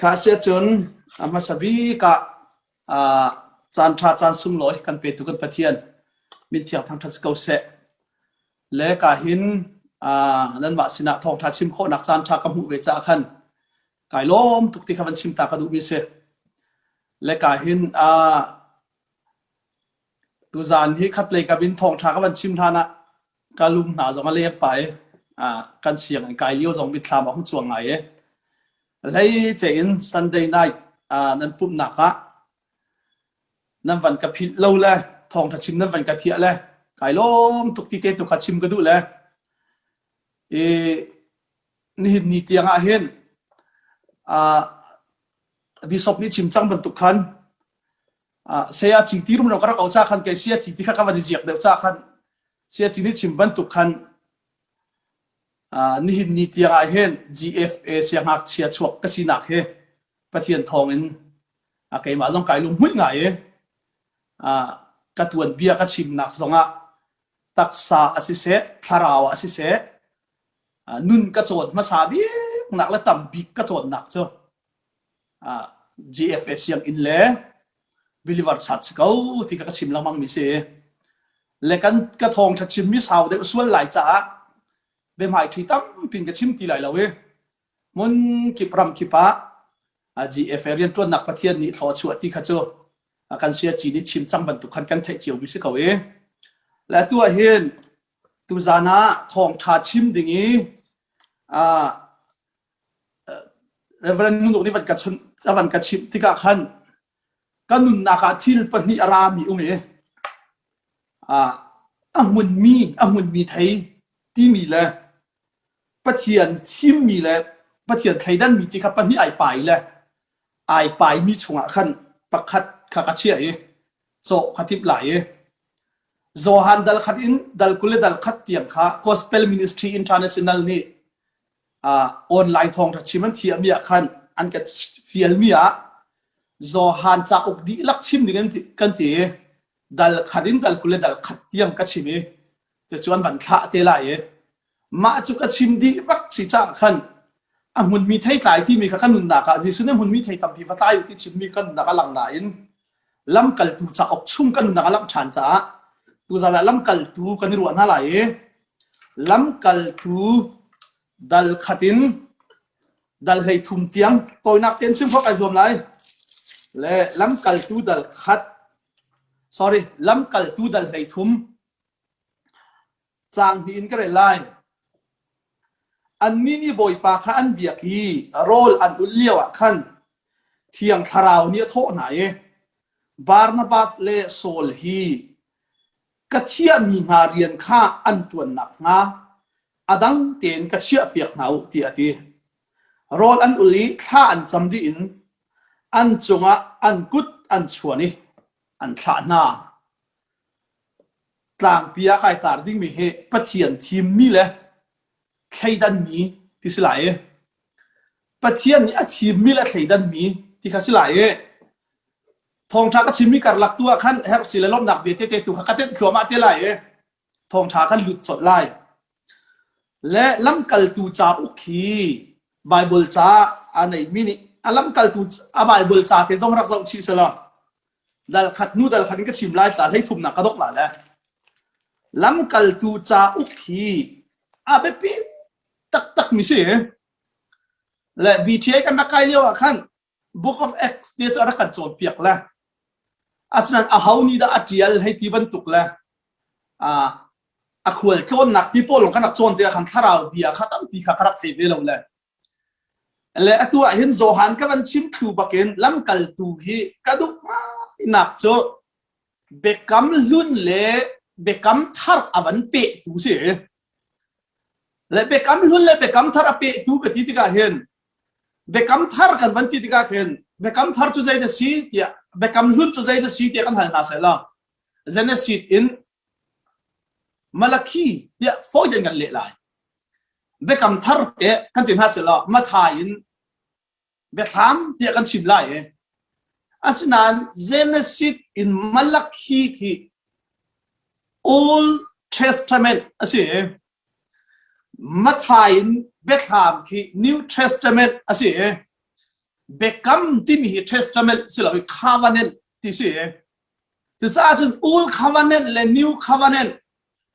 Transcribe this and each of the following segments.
Kha a si ahcun a hmasa bik ah caan ṭha caan sunglawi kan petu kan Pathian min thiang thangṭhat si ko seh. Le ka hin nanmah sinah thawngṭha chim khawhnak caan ṭha ka hmuh ve caah khan kai lawm tuk ti kha van chim ta ka duhmi a si. Le ka hin Tuzaan hi khatlei kam in thawngṭha ka van chim hlan ah ka lum hna zong a leng pah i kan siang in kai lio zong mitthlam a hung cuang ngai i hlei ceh in Sunday night nan pumhnak ah nan van ka philh lo le thawngṭha chim nan van ka thiah le kai lawm tuk ti te tu kha chim ka duh le i nihin ni tiang ah hin bishop nih chim cang bantuk khan saya cing ti rum lo ka rak au cha khan kai sia cing ti kha ka van jiak deuh cha khan sia cing ni chim bantuk khan nihin ni tiang ah hin GFA sia ngak chia chuak ka sinak hi pathian thawng in a keimah zong kai lung mui nga e ka tuan bia ka chim nak zong ah taksa a si se thlarau a si se nun ka chawn hmasa bik nak le tam bik ka chawn nak cu GFA sianginn le believer chat si ko ti ka chim lengmang mi si le kan ka thawngtha chimmi sau deuh sual lai caah biahmai thui tampin ka chim ti lai lo i mun kip ram kip ah GFA riantuannak pathian nih thlaw chuah ti kha cu kan sia ci nih chim cang bantuk khan kan theih cio mi si ko i le tu ah hin tuzan ah thawngtha chim ding i Reverend nih a van ka chimh tikah khan ka nunnak ah thil pahnih a rami um i a hmunmi a hmunmi thei timi le Pathian thimmi le Pathian thleidanmi ti kha pahnih ai pai le ai paimi chungah khan pakhat kha ka chiah i cawh ka timh lai i Johan dal khat in dal kul le dal khat tiang kha Gospel Ministry International nih online thawngtha chim an thiammi ah khan an kan fialmi ah Johan cauk dihlak chim ding kan ti dal khat in dal kul le dal khat tiang ka chim i cucu an van thlah te lai i mah cu ka chim dih bak si cah khan a hmunmi thei tlai timi kha kan nunnak ah Jesuh nih hmunmi thei tampi va tlai ti chimmi kan nunnak a lang nain lamkaltu cauk chung kan nunnak a langh ṭhan caah tuzan ah lamkaltu kan i ruah hna lai i lamkaltu dal khat in dal hlei thum tiang tawinak tein chim khawk ai zuam lai le lamkaltu dal khat sorry lamkaltu dal hlei thum Caang hnih in ka rel lai. Annih nih Bawipa kha an biak i rawl an ul lio ah khan Thiang Thlarau nih a thawh hna i Barnabas le Saul hi ka thiahmi hna rian kha an ṭuan nakhnga a dang tein ka chiahpiak hna u tiah a ti. Rawl an ul i thla an cam dih in an cungah an kut an chuan i an thlah hna. Tlangpi ah kai tar dingmi hi Pathian thimmi le thleidanmi ti si lai i Pathian nih a thimmi le thleidanmi ti kha si lai i thawngṭha ka chimmi karlak tu ah khan herhsi le lawmhnak bia tete tu kha ka tenh thluahmah te lai i thawngṭha kan lut colh lai. Le lamkaltu cauk hi Baibal ca aa neihmi nih a lamkaltu a Baibal ca te zong rak zoh chih selaw Dalkhat nu dalkhat in ka chim lai ca hleithumnak ka dok la le lamkaltu ca uk hi a biapi taktak mi si le BTA kan rak kai lio ah khan Book of Acts te cu a rak kan cawnpiak le asinain a ho nih dah a tial hei ti bantuk le a a khual tlawnnak ti pawl kan rak cawn te ah khan thlarau bia kha tampi kha ka rak thei ve lo le Le atu ahhin Johan ka van chim thlu bakin lamkaltu hi ka duh ngainak cu Biakam Hlun le Biakam Thar a van pehtu si. Le Biakam Hlun le Biakam Thar a pehtu ka ti tikah hin Biakam Thar kan van ti tikah khin Biakam Thar cu zei da si tiah Biakam Hlun cu zei da si tiah kan hal hna sai la. Genesis in Malakhi tiah foiten kan leh lai. biakam thar te kan ti hna selaw matha in biathlam tiah kan chim lai e asinain genesis in malakhi khi old testament asi matha in biathlam khi new testament asi biakam timi hi testament silo covenant ti si cucaah cun old covenant le new covenant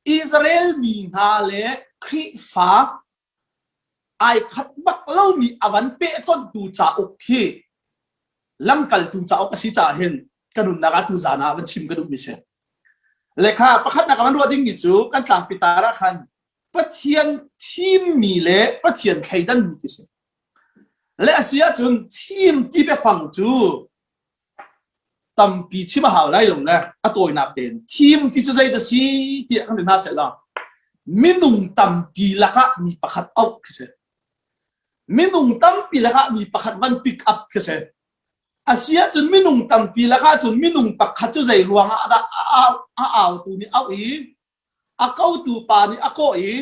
Israel mi hna le Khrihfa ai khat bak lomi a van peh tontu cauk hi lamkaltu cauk a si caah hin ka nunnak ah tu zaan ah van chim ka duhmi si. Lekha pakhatnak a van ruah dingmi cu kan tlangpi tar ah khan Pathian thimmi le Pathian thleidanmi ti si. Le a si ahcun thim ti biafang cu tampi chim a hau lai lo le a tawinak tein thim ti cu zei dah si tiah kan ti hna sehla minung tampi lakah mi pakhat auh khi si minung tampi lakah mi pakhat van pick up khi si asiahcun minung tampi lakah cun minung pakhat cu zei ruangah dah a autu nih auh i a kotu pa nih a kawh i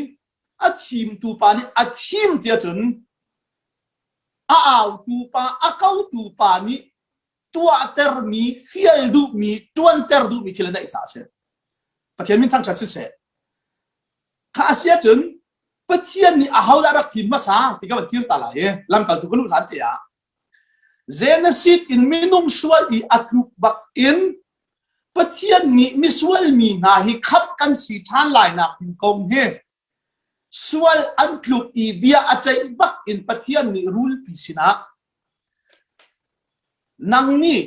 a thimtu pa nih a thim ti ahcun a autu pa a kotu pa nih tuahtermi fial duhmi tuanter duhmi thil an daih caah a si pathian min thangṭhat siseh kha a si ahcun pathian nih ahodah rak thim hmasa ti ka van kir ta lai i lamkaltu ka luh hlan te ah Genesis in minung sual i a tluk bakin Pathian nih misual mi hna hi khap kan si ṭhan lai nak ding kong hi sual an tluk i bia a ceih bak in Pathian nih rulpi sinah nang nih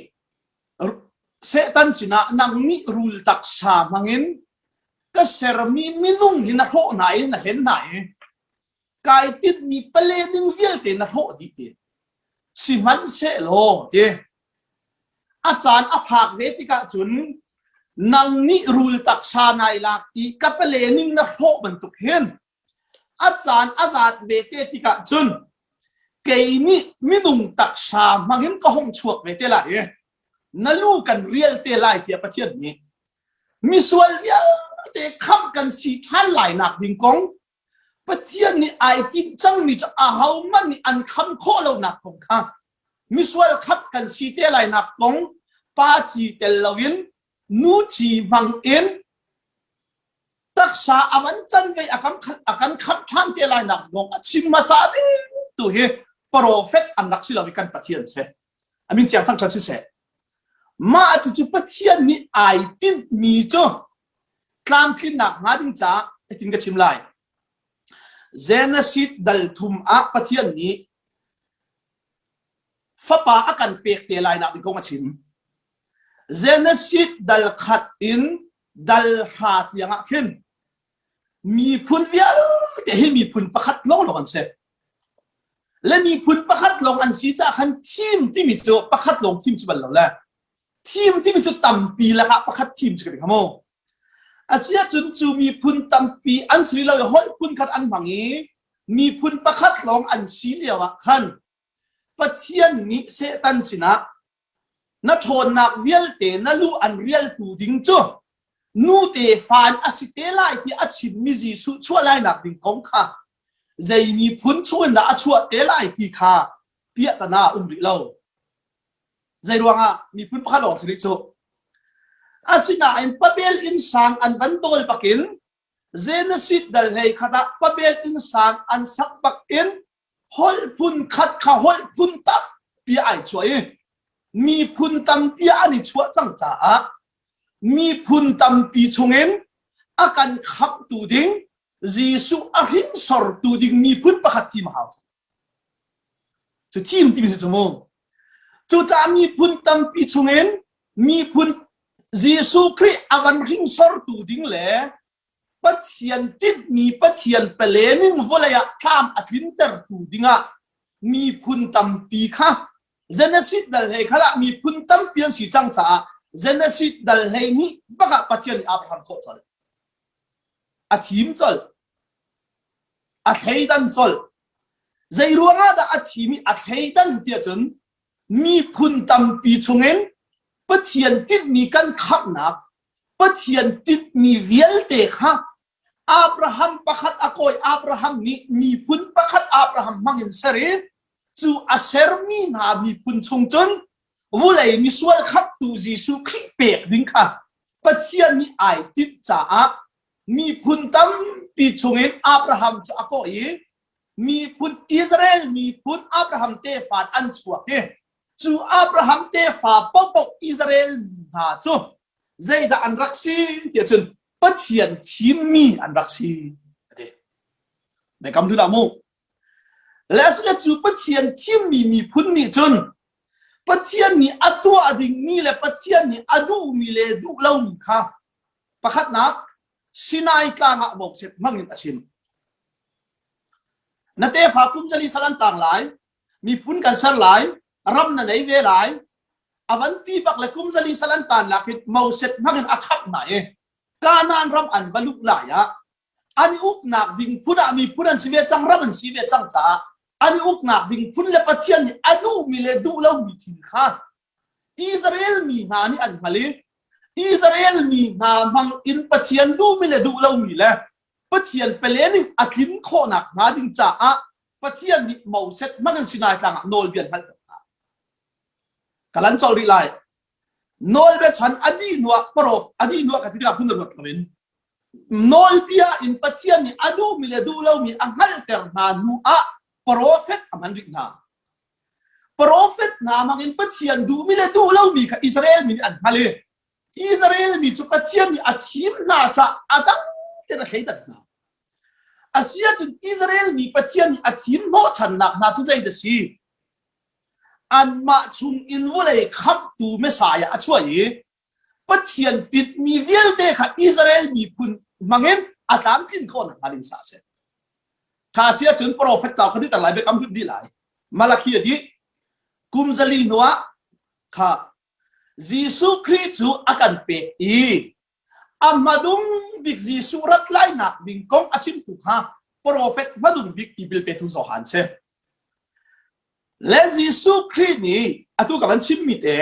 Satan sinah nang nih rul taksa hmangin ka sermi minung hi na hrawh hna i na hlen hna i kai tinhmi pale ning vialte na hrawh dih ti sihmanhsehlaw ti a caan a phak ve tikah cun nang nih rul taksa nai lak i ka pale ning na hrawh bantuk hin a caan a zat ve te tikah cun kei nih minung taksa hmangin ka hong chuak ve te lai i na lu kan rial te lai tiah pathian nih misual vialte khamh kan si ṭhan lai nak ding kong Pathian nih ai tinh cangmi cu ahohmanh nih an kham khawh lonak kong kha misual khat kan si te lainak kong pa ci tel loin nu ci hmang in taksa a van canve a kan a kan khamh ṭhan te lainak kong a chim hmasa ding tu hi profet an rak si lo i kan Pathian se amin tiang thang kha si seh mah cucu Pathian nih ai tinhmi cu tlamtlinnak hnga ding caah hitin ka chim lai. Genesis dal thum ah Pathian nih fapa a kan pek te lai nak ding kong a chim. Genesis dal khat in dal hra tiang ah khin miphun vialte hi miphun pakhat lo lo an si. Le miphun pakhat lawng an si caah khan thim timi cu pakhat lawng thim ci bal lo le Thim timi cu tampi lakah pakhat thim cu ka ding mu. Asiahcun cu miphun tampi an si rih lo i holh phun khat an hmang i miphun pakhat lawng an si lio ah khan Pathian nih Satan sinah na ṭhawnnak vialte na lu an rialtu ding cu nu tefa in a si te lai ti a chimmi Jesuh chuahlainak ding kong kha zei miphun chungin dah a chuah te lai ti kha piahtana a um rih lo. Zeiruangah miphun pakhat lawng si rih cu. Asinain pabel insang an van dawl bakin Genesis dal hlei khat ah pabel insang an sak bakin holh phun khat kha holh phun tak pia ai chuai miphun tampi an i chuah cang caah miphun tampi chungin a kan khamtu ding Jesuh a hrinsortu ding miphun pakhat thim hau Cu chin timi si cu mu. Cucaah miphun tampi chungin miphun Jesuh Khrih a kan hringsortu ding le Pathian tinhmi Pathian palen in vawlei ah thlam a tlintertu dingah miphun tampi kha Genesis dal hlei kha lah miphun tampi an si cang caah Genesis dal hlei nih bak ah Pathian nih a rak hram khawh colh. A thim colh. A thleidan colh. Zeiruangah dah a thim i a thleidan tiah cun miphun tampi chungin Pathian tinhmi kan khamhnak, Pathian tinhmi vialte kha Abraham pakhat a kawi Abraham nih miphun pakhat Abraham hmangin ser i cu a sermi hna miphun chung cun vulei misual khamtu Jesuh Khrih pek ding kha Pathian nih ai timh caah Miphun tampi chungin Abraham cu a kawh i miphun Israel miphun Abraham tefa an chuak i cu Abraham tefa paohpaoh Israel hna cu zeidah an rak si tiah cun Pathian thimmi an rak si a ti. Naikam hlun ah mu. Leslie cu Pathian thimmi miphun nih cun Pathian nih a tuah dingmi le Pathian nih a duhmi le duh lomi kha pakhatnak Sinai tlang ah vokset hmangin a chim. Na tefa kum zali sal an tang lai, miphun kan ser lai, ram na nei ve lai, a van ti bak le kum zali sal an tan lak hin moset hmangin a khap na i Kanaan ram an va luh lai ah an i uknak ding phun ah miphun an si ve cang ram an si ve cang caah an i uknak ding phun le pathian nih a duhmi le duh lomi thil kha Israel mi hna nih an hngal i Israel mi hna hmang in pathian duhmi le duh lomi le pathian pelen in a tlin khawhnak hnga ding caah pathian nih Moses hmang an si nai tlangah nawlbia hngalh hna kalan chol rih lai nawlbiachan a dih hnuah parof a dih hnuah ka ti tikah hmun a ruat loin nawlbia in Pathian nih a duhmi le duh lomi a hngalhter hna hnu ah profet a hman rih hna. Profet hna hmangin Pathian duhmi le duh lomi kha Israel mi nih an hngal i Israel mi cu Pathian nih a thim hna caah a dang tein a thleidan hna. A si ahcun Israel mi Pathian nih a thim hnawhchannak hna cu zei da si? anmah chungin vawlei khamhtu Messiah a chuah i Pathian tinhmi vialte kha Israel miphun hmangin a tlamtlin khawhnak hnga ding sa a si. Kha si ahcun profet cau kha dih lai biakam hlut dih lai. Malakhi a dih. Kum zali hnuah kha Jesuh Khrih cu a kan pek i A hmadung bik Jesuh rat lainak ding kong a chimtu kha profet hmadung bik ti bilpetu Johan si. Le Jesuh Khrih nih atu ka van chimmi te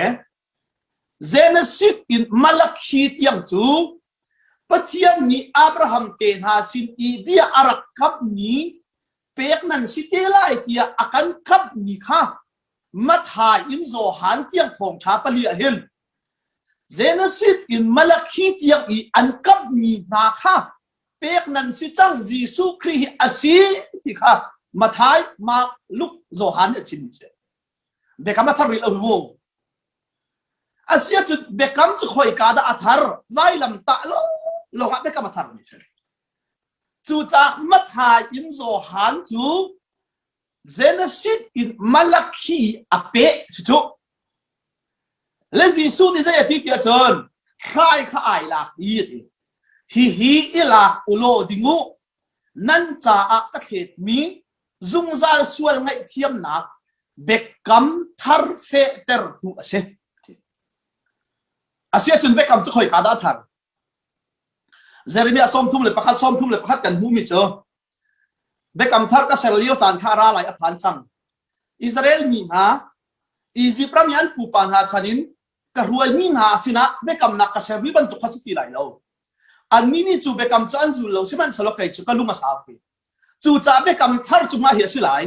Genesis in Malakhi tiang cu Pathian nih Abraham te hna sin i bia a rak kamhmi pek nan si te lai tiah a kan kamhmi kha Matthai in Johan tiang thawngṭha pali ah hin Genesis in Malakhi tiang i an kamhmi hna kha pek nan si cang Jesuh Khrih hi a si ti kha Mathai, Mark, Luke, Johan nih a chim a si. Biakam a thar ril a vung. Asiacun biakam cu khoika dah a thar vailam tah lo lawngah biakam a thar mi si. Cucaah Mathai in Johan cu Genesis in Malakhi a peh cucu le Jesuh nih zei a ti tiah cun hrai kha ai lak i a ti hihi i lak u law ding u nan caah ka thletmi zungzal sual ngaihthiamnak biakam thar fehtertu a si. Asiahcun biakam cu khoi ka dah thar? Jeremiah sawmthum le pakhat sawmthum le pakhat kan hmumi cu Biakam Thar ka ser lio caan kha ra lai a phan cang. Israel mi hna, Izipt ram i an pupa hna chan in ka ruaimi hna sinah biakamnak ka ser rih bantuk kha si ti lai lo. Annih nih cu biakam cu an zul lo, sihmanhsehlaw kei cu ka lung a sau ve. Cucaah biakam thar cu ngah hi a si lai,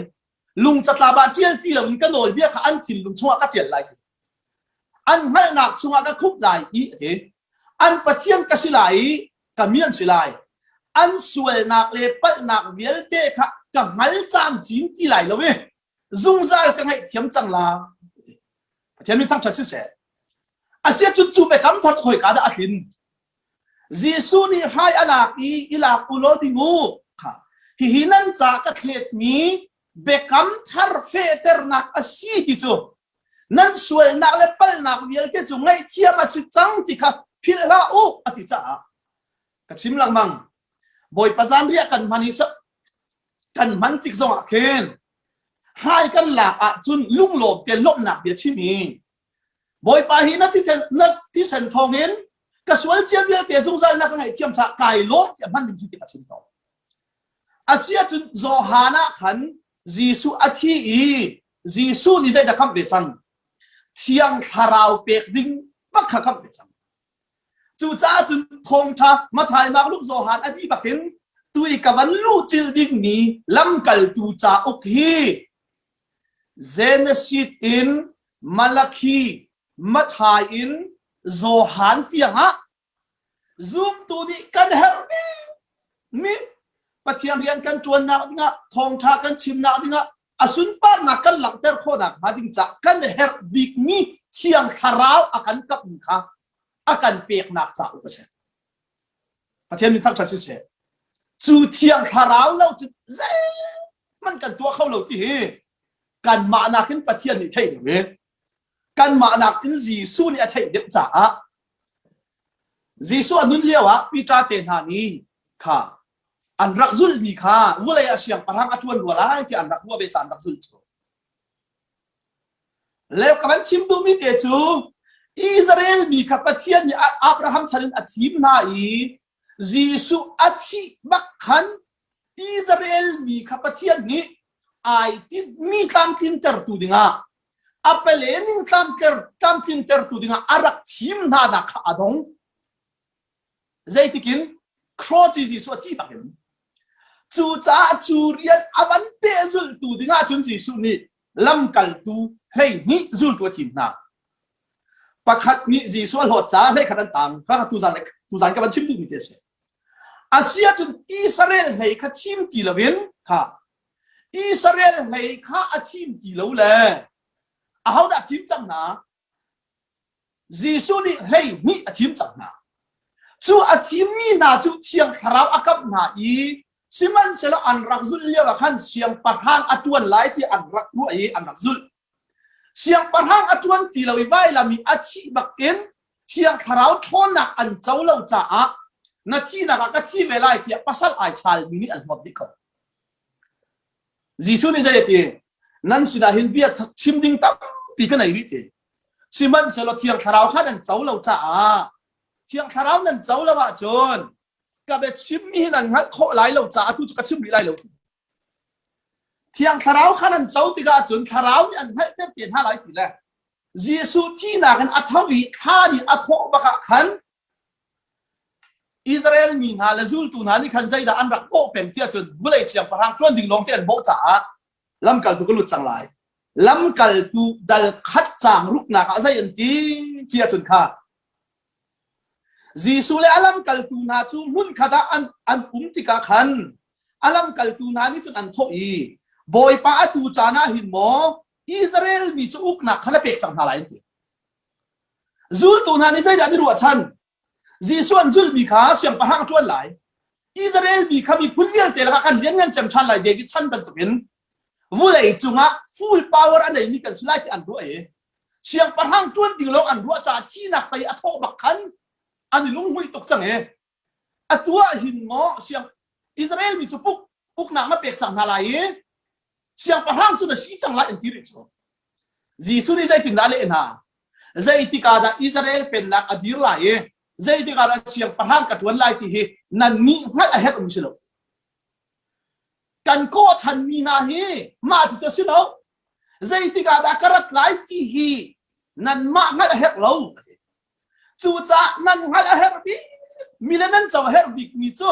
lung catlap ah ṭial ti loin ka nawlbia kha an thinlung chungah ka ṭial lai ti an hngalhnak chungah ka khup lai i a ti an pathian ka si lai i ka mi an si lai an sualnak le palhnak vialte kha ka hngal camcin ti lai lo i zungzal ka ngaih thiam cang la pathian min thangṭhat siseh a sia cun cu pekam thar hoi ka dah a tlin Jesuh nih hrai a lak i i lak u law ding u. Hihi nan ca ka thletmi biakam thar fehternak a si ti cu nan sualnak le palhnak vialte cu ngaihthiam a si cang ti kha philh hlah u a ti caah ka chim lengmang. Bawipa zanriah kan hman hi kan hman tik zongah khin hrai kan lak ahcun lunglawm te lawmhnak bia chim hi Bawipa hi na thisen thawngin ka sual cia vialte zungzal na ka ngaihthiam cha kai law tiah hman ding cu a chim to asiahcun Johan ah khan Jesuh a thi i Jesuh nih zeidah khamh ve cang thiang thlarau pek ding bak kha khamh ve cang cucaah cun thawngtha Mathai Mark Luke Johan a dih bakin tui ka van luh cil dingmi lamkaltu cauk hi Genesis in Malakhi, Matthai in Johan tiangah zumtu nih kan herhning mi Pathian rian kan ṭuannak dingah thawngṭha kan chimnak dingah a sunparnak kan langhter khawhnak hnga ding caah kan herh bikmi thiang thlarau a kan kapmi kha a kan peknak cauk a si. Pathian min thangṭhat siseh, cu thiang thlarau lo cu zeihmanh kan tuah kho lo ti hi kanmah nakin Pathian nih theih deuh i kanmah nakin Jesuh nih a theih deuh caah Jesuh a nun lio ah Peter te hna nih kha an rak zulmi kha vawlei a siangpahrang a ṭuan rua lai tiah an rak ruah ve ca an rak zulh cu. Leu ka van chim duhmi te cu Israel mi kha Pathian nih Abraham chan in a thim hna i Jesuh a thih bak khan Israel mi kha Pathian nih ai tinhmi tlamtlintertu dingah a palenin tlamtlintertu dingah a rak thim hna dah kha a dong. Zeitikin Cross Jesuh a ci bak in cucaah cu rian a van pehzulhtu dingah cun Jesuh nih lamkaltu hleihnih zultu a thim hna. Pakhat nih Jesuh a hlawt caah hlei khat an tang. Ka tuzan le tuzan ka van chim duhmi ti a si. A si ahcun Israel hlei kha thim ti loin kha Israel hlei kha a thim ti lo le ahodah a thim cang hna? Jesuh nih hleihnih a thim cang hna. Cu a thimmi hna cu thiang thlarau a kamh hna i sihmanhsehlaw an rak zulh lioah khan siangpahrang a ṭuan lai tiah an rak ruah i an rak zulh. Siangpahrang a ṭuan ti lo i vailam i a thih bakin thiang thlarau ṭhawnnak an co lo caah na thihnak ah ka thi ve lai tiah pasal ai ṭhalmi nih an hlawt dih kho. Jesuh nih zei a ti? Nan sinah hin bia chim ding tampi ka nei rih ti. Sihmanhsehlaw Thiang Thlarau kha nan co lo caah Thiang Thlarau nan co lo ahcun ka biachimmi hi nan hngalh khawh lai lo caah tu cu ka chim rih lai lo. Thiang Thlarau kha nan co tikah cun Thlarau nih an hngalhter te hna lai ti le Jesuh thihnak in a tho i thla nih a thawh bak ah khan Israel mi hna le zultu hna nih khan zeidah an rak bawh peng ti ahcun vulei siangpahrang ṭuan ding lawng te an bawh caah lamkaltu ka lut cang lai. Lamkaltu dal khat caang ruknak ah zei an ti ti ahcun kha Jesuh le a lamkaltu hna cu hmunkhat ah an, an um tikah khan a lamkaltu hna nih cun an thawh i, Bawipa atu caan ah hin maw Israel mi cu uknak kha na pek cang hna lai an ti. Zultu hna nih zeidah an i ruahchan? Jesuh an zulmi kha siangpahrang ṭuan lai. Israel mi kha miphun vialte lakah khan lianngan cem ṭhan lai David chan bantukin vulei cungah full power a neimi kan si lai ti an ruah i siangpahrang ṭuan ding lawng an ruah caah thihnak pei a thawh bak khan an i lunghmuih tuk cang i Atu ahhin maw siang Israel mi cu puk uknak na pek sang hna lai i siangpahrang cu na si cang lai an ti rih cu. Jesuh nih zeitindah a leh hna? Zeitikah dah Israel pennak a dir lai i zeitikah dah siangpahrang ka ṭuan lai ti hi nannih hngalh a herh um si lo. Kan kawhchanmi hna hi mah cucu a si lo. Zeitikah dah ka rat lai ti hi nanmah hngalh a herh lo. Cucaah nan hngalh a herh bik mi le nan co a herh bik mi cu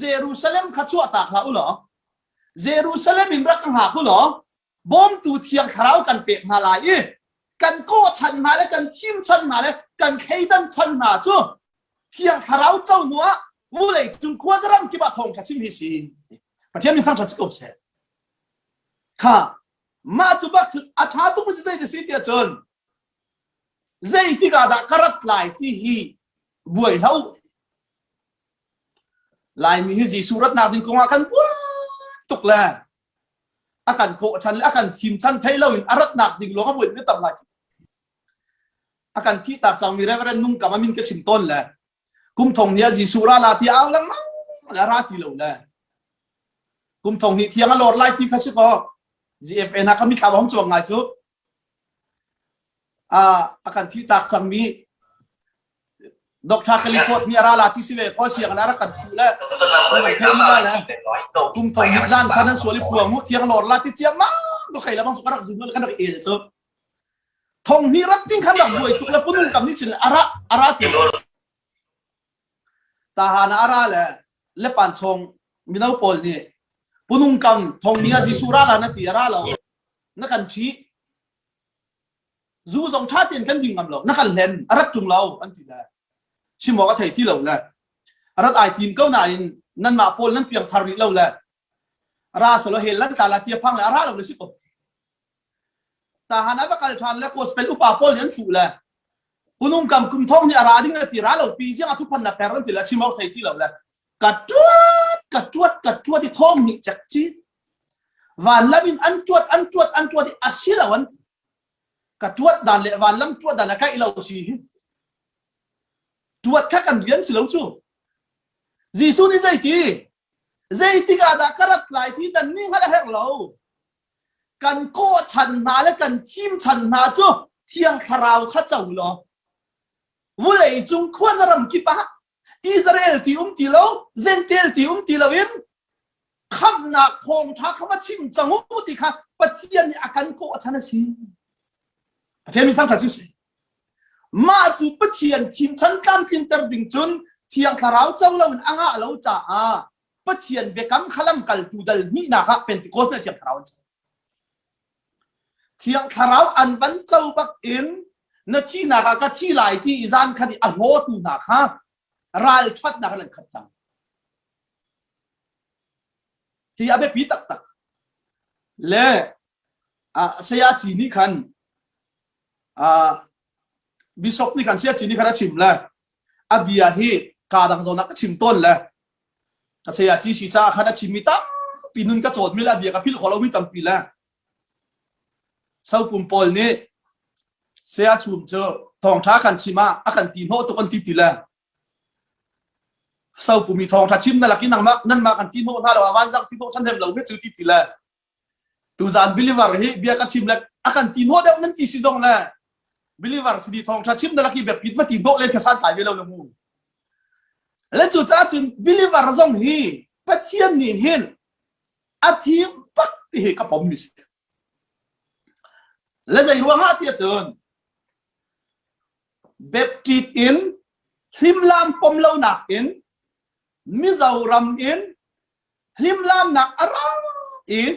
Jerusalem kha chuahtak hlah u law Jerusalem in rak hngak u law bawmtu thiang thlarau kan pek hna lai i kan kawhchan hna le kan thimchan hna le kan thleidan chan hna cu thiang thlarau co nu ah vulei cung khuazaram kip ah thawng kha chim hi si Pathian min thangṭhat si ko seh kha mah cu bak cu a ṭha tuk mi cu zei ti si tiah cun Zeitik ah dah ka rat lai ti hi buai hlah u. Laimi hi Jesuh ratnak ding kongah kan buai tuk le a kan kawh chan le a kan thim chan thei lo in a ratnak ding lawng a buai mi tam lai. A kan thi tak cangmi Reverend Nung Kam a min ka chim tawn le kum thong hi a Jesuh ra la ti a au lengmang le ra ti lo le kum thong hi thiang a lor lai ti kha si kaw GFN ha kami thlaba hom chuak ngai cu a kan thihtak cangmi Doctor California nih a ra la ti si ve ko siang na rak kan thu le kan thei ni na kum to ni zan khan an suali puang mu thiang lor la ti chiam ma do khai la bang rak zum kan rak el chu thong ni rat ting khan rak buai tuk le punung kam ni chin ara ara ti ta ha na ara le le pan chong mino paul ni punung kam thong ni a jisu ra la na ti ra lo na kan ṭhih zu zong ṭha tein kan ding ngam lo na kan hlen a rat ṭung lo an ti le chim awk a thei ti lo le rat ai tim ko nain nanmah pawl nan piang thar rih lo le ra solo he lan tla la tia phang le a ra lo le si ko tahan a kal ṭhan le gospel upa pawl an fu le unung kam kum thong ni a ra ding le ti ra lo pi jiang a thu phan la per lan ti le chim awk thei ti lo le ka ṭuat ka ṭuat ka ṭuat i thong ni chek chi Vanlam in an tuat an tuat an tuat i a si lo an ka tuat dan le vanlam tuat dan a kaih lo si tuat kha kan rian si lo cu Jesuh nih zeiti zeitik ah dah ka rat lai ti dan ni hngal a herh lo kan kawh chan hna le kan thim chan hna cu thiang thlarau kha co law vulei cung khuazaram kip ah Israel ti um ti lo, Gentel ti um ti lo in khamnak thawngtha kha va chim cang u ti kha Pathian nih a kan kawh a chan a si. Pathian min thangthat cu si. Mah cu Pathian chimchan tlamtlinter ding cun Thiang Thlarau co lo in a ngah lo caah Pathian biakam kha lamkaltu dal hnih nak ah Pentecost nih Thiang Thlarau an co. Thiang Thlarau an van co bakin na thihnak ah ka thi lai ti i zankhat i a hlawtu hna kha ralṭhatnak in an khat cang. Hi a biapi taktak. Le ah, saya ci nih khan ah, Bishop nih kan siaci nih khan a chim le a bia hi kaa dang zawnak ka chim tawn le ka sayaci si caah khan a chimmi tampi nun ka cawt mi le a bia ka philh khawh lomi tampi le sopum pawl nih sea chum cu thawngtha kan chim ah a kan ti hnawh tuk an ti ti le sopumi thawngtha chim na lak i nangmah nanmah kan ti hnawh hna lo a van zang ti hnawh than hem lo me cu ti ti le Tuzaan believer hi bia ka chim le a kan ti nuah deuh nan ti si zong le believer si di thawng tha chim na laki biapit ma ti hnawh len kha san tai ve lo le mu le cu ca cun believer zong hi pathian nih hin a thim pak ti hi ka pom mi si le zei ruangah ti cun baptist in hlimlam pom lo nak in mizoram in hlimlamnak a ra in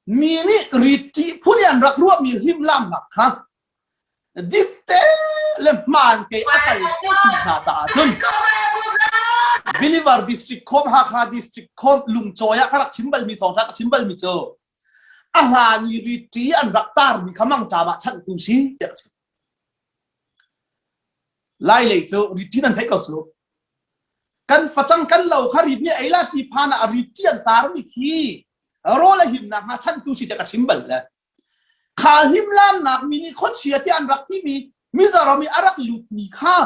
mi nih ritṭi phun in an rak ruahmi hlimlamnak kha dikte le hmankei a tel te ti hna caah cun Believer district khom Hakha district khom Lungcawi ah ka rak chim balmi thawngṭha ka chim balmi cu a hlan i ritṭi an rak tarmi kha mangṭam ah chanhtu si tiah ka chim. Lailei cu ritṭi nan theih ko cu. Kan facang kan lo kha rit nih ei la ti phan ah ritṭi an tarmi khi rawl a himnak hna chantu si tiah ka chim bal le kha himlamnak mi nih khuachia tiah an rak timi Mizoram i a rak lutmi kha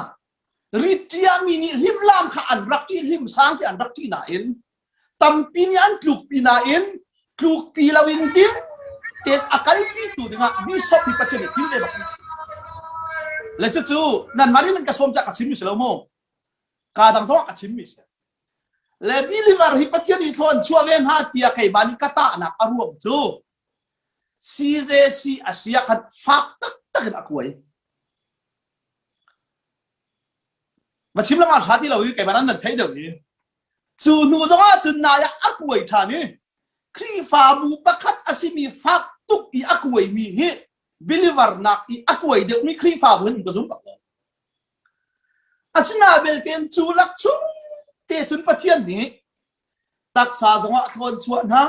Ritiah mi nih hlimlam kha an rak ṭih, hlimsang te an rak ṭih nain tampi nih an tlukpi nain tlukpi loin ding tein a kalpitu dingah bishop hi Pathian hi thim te bak an si. Le cucu nanmah nih nan ka sawm tiah ka chimmi si lo mu. Kaa dang zongah ka chimmi si. Le believer hi Pathian i thlawn chuah ve hna tiah keimah nih ka tahnak a ruang cu CJC a si ah khan fak taktak in a kuai. Va chim langah hra ti lo i keiman an nan thei deuh i cu hnu zong ah cun nai ah a kuai ṭhan i Khrihfabu pakhat a simi fak tuk i a kuai mi hi believernak i a kuai deuhmi Khrihfabu hin ka zum bak lo. Asina belte cu lak chung te cun Pathian nih taksa zong ah a thlawn chuah hna,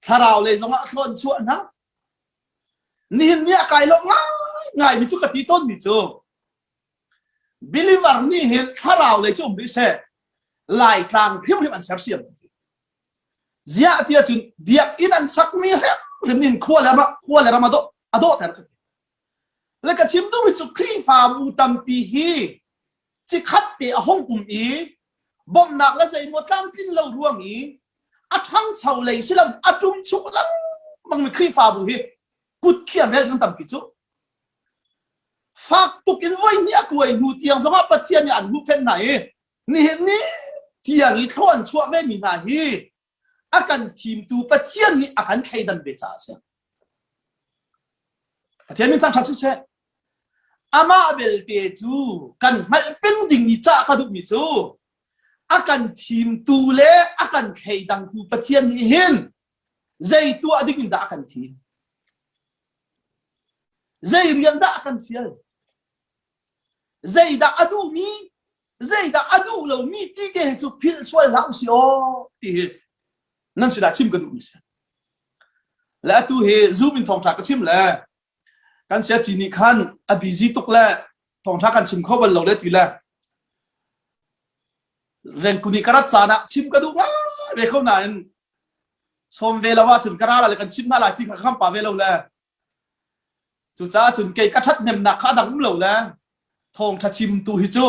Thlarau lei zongah thlawn chuah hna. Nihin ni ah kai lawm ngai mi cu ka ti tawn mi cu believer nih hin thlarau lei cu um rih she laitlang hrimhrim an sersiam ziah tiah cun biakinn an sak mi hrimhrim in khua le khua le ram a dawh a dawh ter le ka chim duh mi cu Khrihfabu tampi hi Cikhat te a hung um i bawmhnak le zeimaw tlamtlin lo ruang i a ṭhangcho lei si lo a ṭum chung lengmangmi Khrihfabu hi kutkhir vel kan tampi cu. Fak tuk in voihnih a kuai hnu tiang zongah Pathian nih an huhphenh hna i nihin ni tiang i thlaw an chuah vemi hna hi a kan thimtu Pathian nih a kan thleidan ve caah a si. Pathian min thangṭhat siseh, amah belte cu kan hngalh peng ding i cah ka duhmi cu a kan thimtu le a kan thleidangtu Pathian nih hin zei tuah ding in dah a kan thim? Zei rian dah a kan fial? Zei dah a duhmi? zeidah a duh lomi ti te cu philh sual hlah u si aw ti hi nan sinah chim kan duhmi si le atu hi zoom in thawngtha ka chim le kan siaci nih khan a busy tuk le thawngtha kan chim kho bal lo le ti le Renkuni karat caan ah chim ka duh nga ve ko nain som ve lawa cun kara la le kan chim na lai ti kha kham pa ve lo le Cucaah cun kei ka ṭhathnemnak kha a dang um lo le thawngṭha chimtu hi cu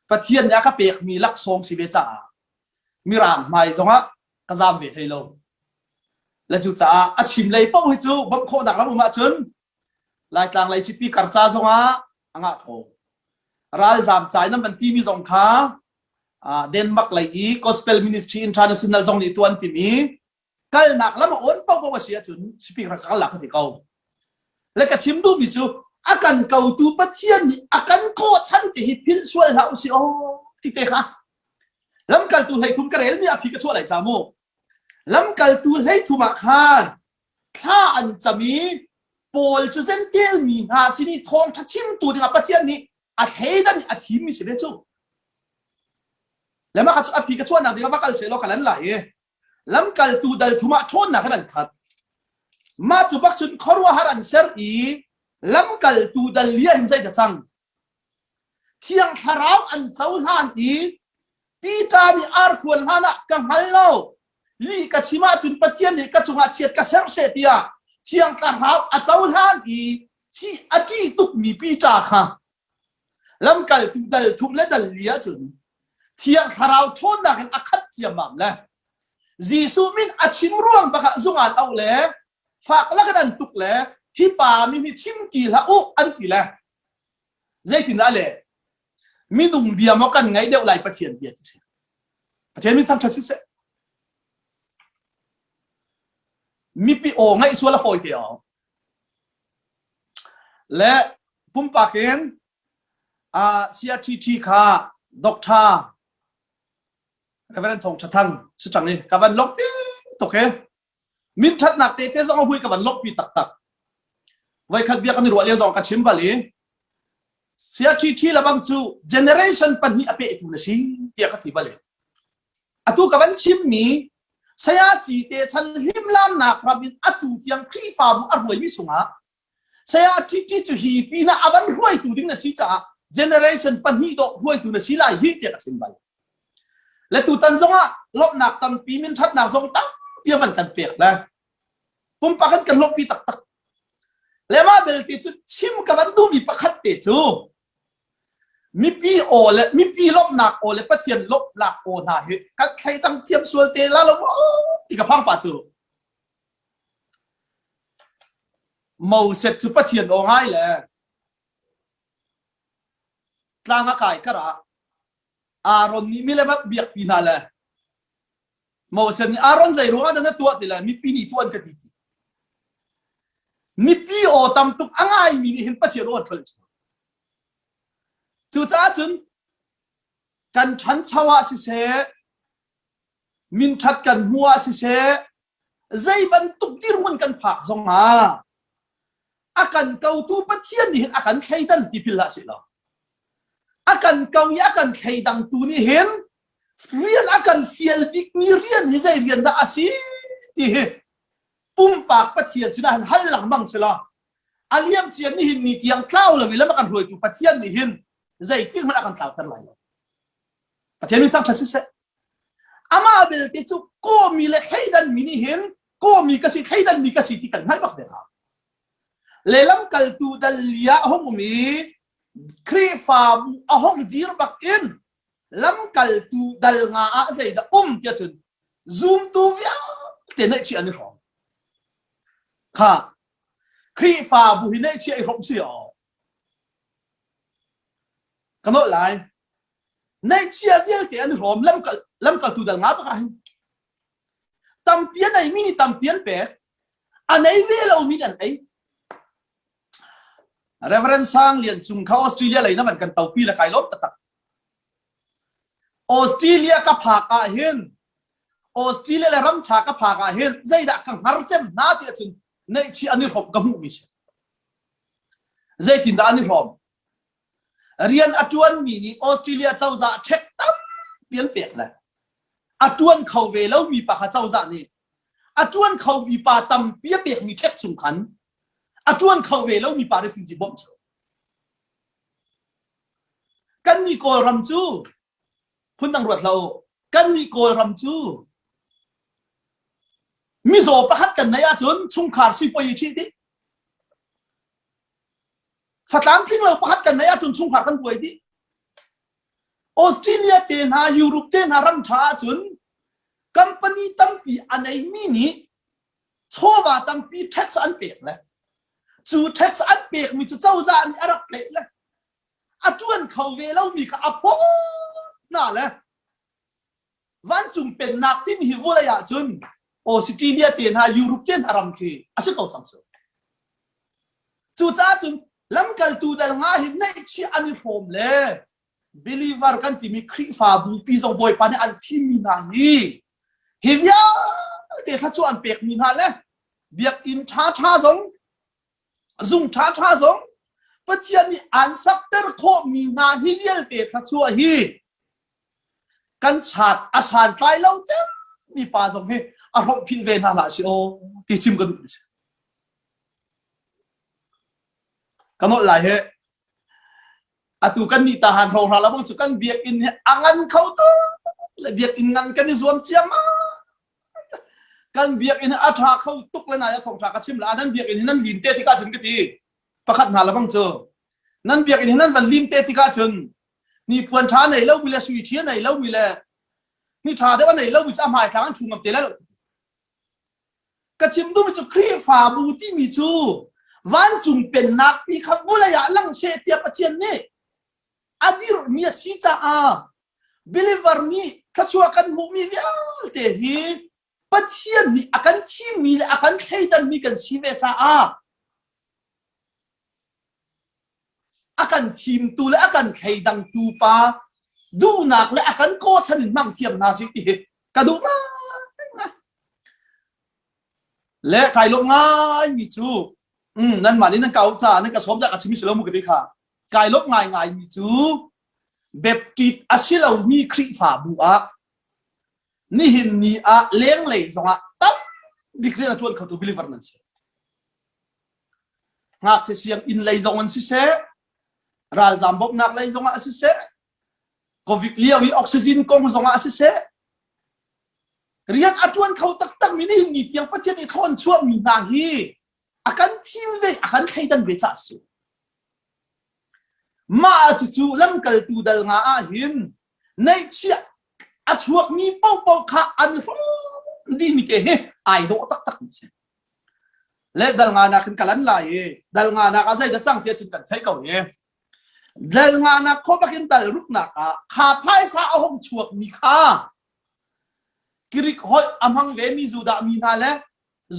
Pathian nih a ka pekmi laksawng si ve caah Mirang hmai zongah ka zaam ve hlei lo. Le cucaah a chim lei paoh hi cu bawmh khawhnak lam um ahcun Laitlang lei sipi karca zongah a ngah kho. Ralzaam cai nam an timi zong kha Denmark lei i Gospel Ministry International zong nih tuah an tim i kalnak lam a on paohpaoh a si ahcun speaker ka kal ka ti ko le ka chim duhmi cu a kan kotu pathian nih a kan kawh chan ti hi philh sual hlah u si aw ti te kha lamkaltu hleithum ka relmi a phi ka chuah lai ca mu lamkaltu hleithum ah khan thla an cam i paul cu zentel mi hna sin i thawngtha chimtu dingah pathian nih a thleidan a thimmi si ve cu le mah ka cu a phi ka chuahnak dingah va kal se law ka lan lai i lamkaltu dalthum ah ṭhawnnak in an khat. Mah cu bak cun khuaruahhar an ser i lamkaltu dal hi an zei ta cang. Thiang Thlarau an cohlan i Peter nih ar khuan hlan ah ka hngal lo li ka chim ahcun Pathian nih ka cungah chiat ka ser she tiah Thiang Thlarau a cohlan i a ṭih tukmi Peter kha Lamkaltu dal thuh le dal li ahcun Thiang Thlarau ṭhawnnak in a khat ciammam le Jesuh min a chim ruang bakah zungan auh le fak lakin an tuk le hi pa mi hi chim ti hlah u an ti le zeitindah le minung bia maw kan ngaih deuh lai Pathian bia ti si Pathian min thangṭhat si seh mipi aw ngaih sual a fawi te aw Le pumpak in CRTT kha Doctor Reverend Thawng Tha Thang si ṭang i ka van lok pi tuk hi min ṭhatnak tete zong a hui ka van lok pi taktak voikhat bia kan i ruah lio zong ka chim bal i CRTT lebang cu generation pahnih a pehtu na si tiah ka ti bal i Atu ka van chimmi Sayaci te chan hlimlamnak ram in atu tiang Khrihfabu a ruaimi sungah saya Ṭiṭi cu hi pinah a van hruaitu ding na si caah generation pahnih dawh hruaitu na si lai hi tiah ka chim bal. Le tutan zongah lawmhnak tampi min ṭhatnak zong tampi a van kan pek le pumpak an kan lawmhpi taktak. Le mah belte cu chim ka van duhmi pakhat te cu Mipi aw le mipi lawmhnak aw le Pathian lawmhnak aw hna hi kan thleidang thiam sual te la lo maw ti ka phang pa cu. Moses cu Pathian aw ngai le tlang a kai kar ah Aaron nih milemat biakpi hna le Moses nih Aaron zei ruangah dah na tuah ti lai mipi nih tuan ka ti ti mipi aw tam tuk a ngaimi nih hin Pathian aw an ṭhol cucaah cun kan ṭhancho ah siseh minṭhat kan hmu ah siseh zei bantuk dirhmun kan phak zongah a kan kotu Pathian nih hin a kan thleidan tipil hlah sih law a kan ko i a kan thleidang tu nih hin rian a kan fial bikmi rian hi zei rian dah a si ti hi pumpak Pathian sinah han hal lengmang si law a liam cian nih hin ni tiang tlau lo lam a kan hruaitu Pathian nih hin zeitin hmanh a kan tlauter lai lo Pathian min thangṭhat siseh amah belte cu kawmi le thleidanmi nih hin kawmi ka si thleidanmi ka si ti kan hngalh bak ve hna lelam kaltu dal lia a hung um i Khrihfabu a hung dir bak in lamkaltu dal nga ah zeidah um tia cun zumtu vialte neihchih an i hrawm kha Khrihfabu hi neihchih i hrawm si aw ka nolh lai neihchia vialte an i hrawm lamkal lamkaltu dal nga baka hin tampi a nei mi nih tampi an pek a nei ve lo mi nih an ei Reverend Sang Lian Cung kha Australia lei na man kan taupi la kai lom tatak Australia ka phak ahhin Australia le ramṭha ka phak ahhin zeidah ka hngar cem hna ti ahcun neihchih an i hrawm ka hmuhmi si. Zeitindah an i hrawm? Rian a ṭuanmi nih Australia cozah check tampi an pek le a ṭuan kho ve lomi pa kha cozah nih a ṭuan khomi pa tampi a pekmi check chung khan a ṭuan kho ve lomi pa refugee bawmh cu Kannih Kawlram cu phun dang ruat hlah kannih Kawlram cu mizaw pakhat kan neih ahcun chungkhar sipoi i ṭhih dih. Fatlang tlinglo pakhat kan neih ahcun chungkhar kan kuai dih. Australia te hna, Europe te hna ram ṭha ahcun company tampi a neimi nih chawva tampi tax an pek le cu tax an pek mi cu cozah nih a rak tleih le a tuan kho ve lomi kha a pawt hna le vancung pennak timi hi vawlei ah cun Australia te hna Europe te hna ram khi a si ko cang cu cucaah cun lamkaltu dal nga hi neihchih an i hrawm le believer kan timi Khrihfabu pi zong Bawipa nih an thimmi hna hi hi vialte thla cu an pekmi hna le biakinn ṭhaṭha zong zung ṭhaṭha zong Pathian nih an sakter khawhmi hna hi vialte thluachuah hi kan chat a san tlai lo cem mi pa zong hi a hromh phil ve hna hlah si aw ti chim ka duh si ka nolh lai he atu kan nih tahan rohra la bang cu kan biakinn hi a ngan kho tu le biakinn ngan kan i zuam ciam kan biakinn hi a tha kho tuk le na ya thong tha ka chim la nan biakinn hi nan lin te tika cun ka ti pakhat na la bang cu nan biakinn hi nan van lim te tika cun ni puan tha nei lo mi le sui thia nei lo mi le ni tha deuh nei lo mi chu a hmai tlang an chu ngam te le Ka chim duhmi cu Khrihfabu timi cu vancung pennak pi kha vulei ah lang seh tiah Pathian nih a dirhmi a si caah believer nih thluachuah kan hmuhmi vialte hi Pathian nih a kan thimmi le a kan thleidanmi kan si ve caah a kan thimtu le a kan thleidangtu pa duhnak le a kan kawchan in hmang thiam hna si ti hi ka duh ngai le kai lawm ngai mi cu mm, nanmah nih nan ka caah nan ka sawm ka chimi silo mu ka ti kha kai lawm ngai ngai mi cu beptit a si lomi Khrihfabu ah Nihin ni ah lenglei zongah tam bik rian a tuan khotu believer nan si. Ngakchia siang inn lei zong an si seh, ralzam bawmhnak lei zongah a si seh, Covid lio i oxygen kong zongah a si seh, rian a tuan kho taktak mi nihin ni tiang Pathian i thawn chuah mi hna hi a kan thim ve, a kan thleidan ve ca si. Mah cu cu lamkaltu dal nga ah hin Neihchiah a chuakmi paohpaoh kha an rum dimi te hi ai dawh taktak mi si. Le dal nganak in kalan lai i dal nganak ah zeidah cang tiah cun kan thei ko i dal nganak khuabak in dal ruknak ah kha phaisa a hong chuak mi kha Greek holh a hmang ve mi Judah mi hna le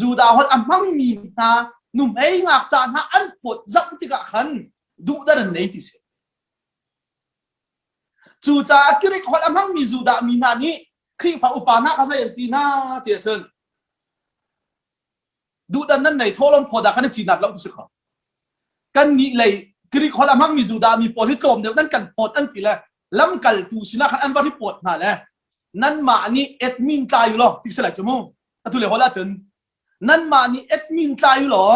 Judah holh a hmang mi hna nuhmei ngakṭa hna an phawt zam tikah khan duhdar an nei ti si. Cucaah Grik holh a hmangmi Judah mi hna nih Khrihfa upa hna kha zei an ti hna ti ahcun duhdan nan nei thawlawm phaw dah kan i cinat lo ti si kho. Kannih lei Grik holh a hmangmi Judah mi pawl hi tlawm deuh nan kan phawt an ti le lamkaltu sinah khan an va ripawt hna le nanmah nih et min tlai u law ti si lai cu mu. Atu le hol ahcun nanmah nih et min tlai u law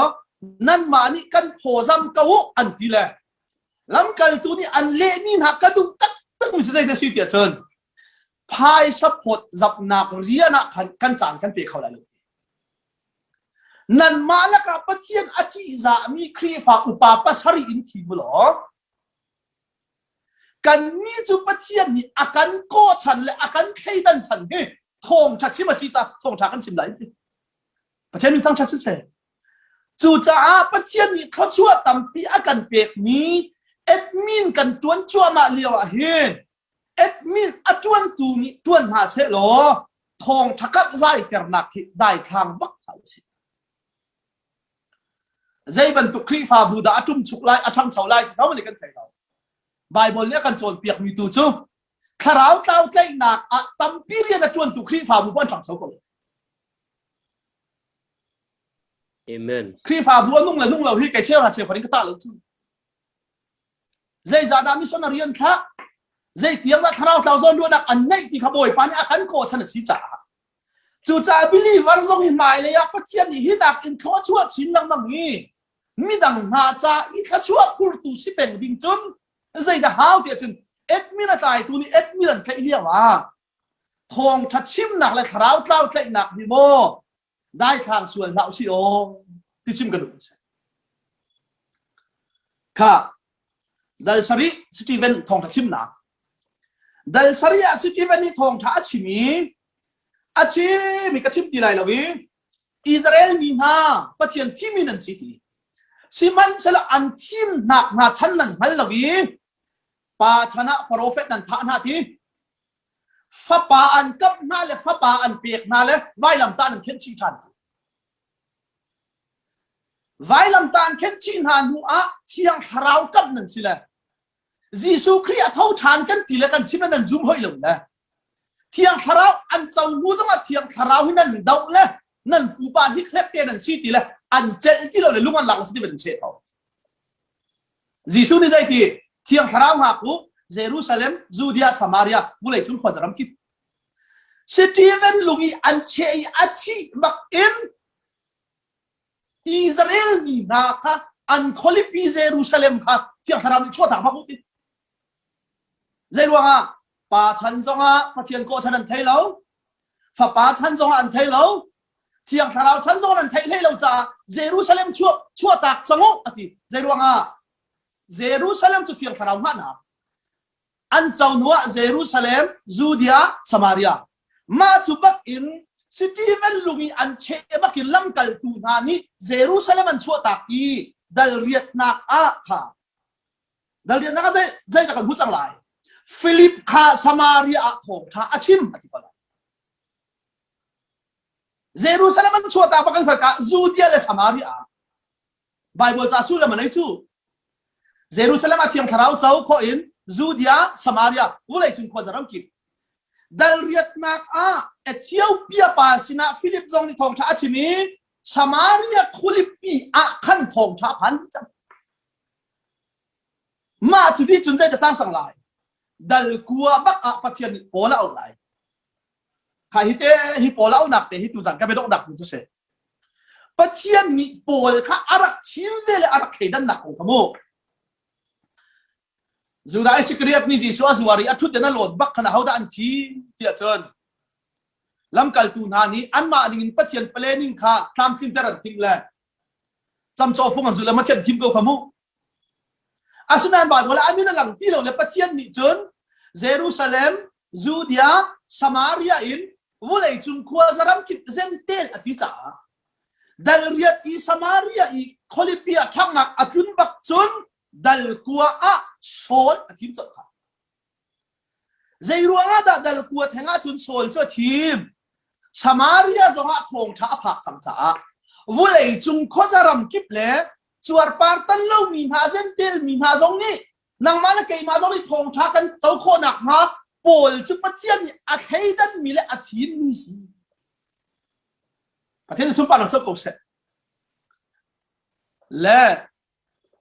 nanmah nih kan phawzam ko u an ti le lamkaltu nih an lehmi hna ka duh taktak mi zei na si tiah cun phaisa phawt zapnak rian ah khan kan caan kan pe kho lai lo nanmah lakah Pathian a ṭihzahmi Khrihfa upa pasarih in thi mu law Kannih cu Pathian nih a kan kawhchan le a kan thleidan chan hi thawngṭha chim a si caah thawngṭha kan chim lai ti. Pathian min thangṭhat si seh. Cucaah Pathian nih thluachuah tampi a kan pekmi admin kan ṭuan cuahmah lio ahhin admin a ṭuantu nih ṭuan hna seh law thawngṭha kamh zai ternak hi daithlang bak hlah u sih. Zeibantuk Khrihfabu dah a ṭumchuk lai, a ṭhangcho lai ti zohmanh kan thei lo. Baibal nih a kan cawnpiakmi tu cu thlarau tlau tlaihnak ah tampi rian a ṭuantu Khrihfabu bu an ṭhangcho ko. Amen. Khrihfabu a nung le nung lo hi kei cheuhra cheuhra in ka tah lo cu. Zeizah dah mission a rian thlah? Zei tiang dah thlarau tlau zawn luatnak an neih ti kha Bawipa nih a kan kawh chan a si caah Cucaah believer zong hi hmailei ah Pathian nih hi nakin thlawchuah chin lengmang i midang hna ca i thluachuah phurtu si peng ding cun zeidah hau tiah cun admin a tlaitu nih admin an tlaih lio ah thawngtha chimnak le thlarau tlau tlaihnak hi maw daithlang sual hlah usih aw ti chim ka duh a si. Kha dal sarih Stephen thawngtha chimnak Dal sarih ah Sikivan nih thawngṭha a chim i a chim i ka chim ti lai lo i Israel mi hna Pathian thimi nan si ti. Sihmanhsehlaw an thimnak hna chan nan hngal lo i pa chan ah profet nan thah hna ti. Fapa an kamh hna le fapa an pek hna le vailamtah nan khenh chih ṭhan ti. Vailamtah an khenh chih hna hnu ah thiang thlarau kamh nan si le Jesuh Khrih a tho ṭhan kan ti le kan chim in nan zum hoi lo le Thiang Thlarau an co hnu zongah Thiang Thlarau hi nan doh le nan pupa hi khekte nan si ti le an celh ti lo le lung an lak si ban che ko Jesuh nih zei ti Thiang Thlarau ngak u Jerusalem Judea Samaria vulei cung khuazaram kip Stephen lung i an che i a thih bak in Israel mi hna kha an khualipi Jerusalem kha thiang thlarau nih chuahtak bak utin. Zei ruangah? Pa chan zongah Pathian kawh chan an thei lo. Fapa chan zongah an thei lo. Thiang thlarau chan zongah an thei hlei lo caah Jerusalem chuah chuahtak cang u ati. Zei ruangah? Jerusalem cu thiang thlarau ngahnak An co hnuah Jerusalem, Judea, Samaria mah cu bakin Stephen lung i an cheh bakin lamkaltu hna nih Jerusalem an chuahtak i dalriatnak ah kha dalriatnak ah zeidah kan hmuh cang lai Filip kha Samaria ah thawngṭha a chim a ti pala Jerusalem an chuahtak bak kan hngalka Judea le Samaria ah Bible ca sullam a nei cu. Jerusalem a thiang thlarau co kho in Judea, Samaria, vulei cung khua zaram kip. Dalriatnak ah Ethiopia pa sinah Philip zong nih thawngṭha a chim i Samaria khulipi ah khan thawngṭha phan cang. Mah cu ti cun zeidah tang sang lai? Dal kua bak ah Pathian nih pawl a auh lai. Kha hi te hi pawl a auhnak te hi tu zan ka bedok dak mun cu si. Pathian mi pawl kha a rak thim ve le a rak thleidannak kong kha mu. Judah Iskariot nih Jesuh a zuar i a ṭhut in a lawn bak khan ahodah an thi tiah cun lamkaltu hna nih anmah ningin Pathian planning kha tlamtlinter an timh le camcawhfung an zulh le Pathian thim ko kha mu. Asinain mah hnual ah a min a lang ti lo le Pathian nih cun Jerusalem, Judea, Samaria in vuleicung khua zaram kip zentel a ti caah dal riat i Samaria i khualipi ah ṭhangnak a tlun bak cun dal kua ah Saul a thim colh kha. Zei ruangah dah dal kua theng ahcun Saul cu a thim? Samaria zong ah thawngṭha a phak cang caah vuleicung khuazaram kip le cuarpar tan lomi hna zentel mi hna zong nih nangmah le keimah zong nih thawngṭha kan co khawhnak hnga Paul cu Pathian nih a thleidan mi le a thin mi si a thil sunparnak co ko seh le